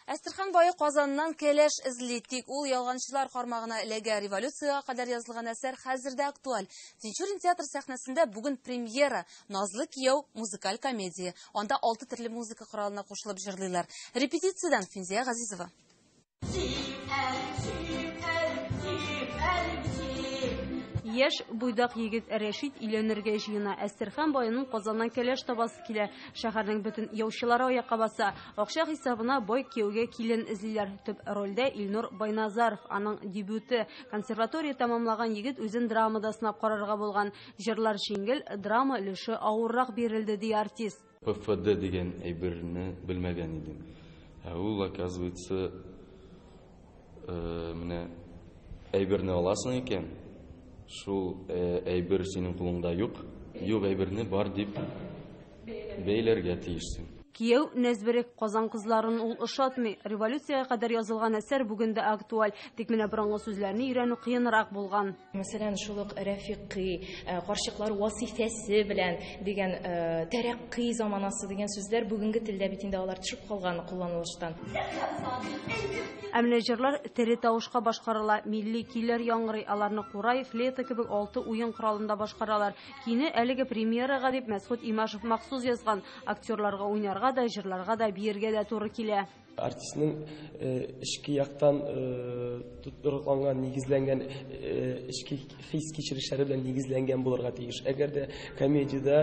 Әстерхан бае Казаннан кәләш эзли, тик ул ялганчылар кармагына эләгә. Революциягә кадәр язылган әсәр хәзер дә актуаль. Тинчурин театр сәхнәсендә бүген премьера Назлы кияү музыкаль комедия. Анда алты төрле музыка коралына кушылып җырлыйлар. Репетициядән Финзия Газизова. Яшь буйдак егет Рәшит өйләнергә җыена. Әстерхан байының Казаннан кәләш табасы килә. Шәһәрнең бөтен яучылары аякка баса. Акча хисабына бай кияүгә килен эзлиләр. Төп рольдә Илнур Байназаров, аның дебюты. Консерватория тәмамлаган егет үзен драмада сынап карарга булган. Җырлар җиңел, драма өлеше авыррак бирелде, ди артист. ПФД дигән әйберне белмәгән идем. Ә ул, оказывается, менә әйберне аласың икән, шул әйбер синең кулыңда юк, юк әйберне бар дип бәйләргә тиешсең. Кияү Нәзберек Казан кызларын ул ошатмый. Революциягә кадәр язылган әсәр бүген дә актуаль, тик менә борынгы сүзләрне өйрәнү кыенрак булган. Мәсәлән, шул ук Рәфикый, э, карчыклар васифәсе белән дигән э, тәрәккый заманасы дигән сүзләр бүгенге телдә бит инде алар төшеп калган кулланылыштан. Ә менә җырлар тере тавышка башкарыла, милли көйләр яңгырый, аларны курай, флейта кебек алты уен коралында башкаралар. Кини әлеге премьерага дип Мәсхүт Имашев махсус язган. Актерларга уйнарга да, җырларга да, биергә дә туры килә. Артистның эчке яктан тотрыкланган, нигезләнгән эчке хис кичерешләре белән нигезләнгән булырга тиеш. Әгәр дә комедиядә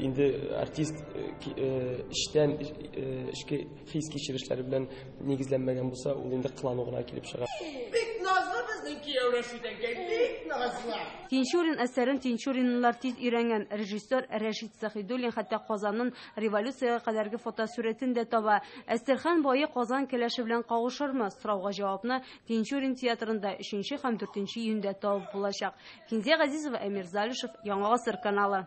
инде артист эчтән эчке хис кичерешләре белән нигезләнмәгән булса, ул инде кылану гына килеп чыга. Тинчурин әсәрен тинчуринлылар тиз өйрәнгән. Режиссер Рәшит Сәхидуллин хәтта Казанын Революциягә кадәрге фотосурәтен дә таба. Әстерхан бае Казан кәләше белән кавышырмы? Сорауга җавапны Тинчурин театрында 3 һәм 4 июньдә табып булачак. Кинзә Газизова, Әмир Залишев, Яңа гасыр каналы.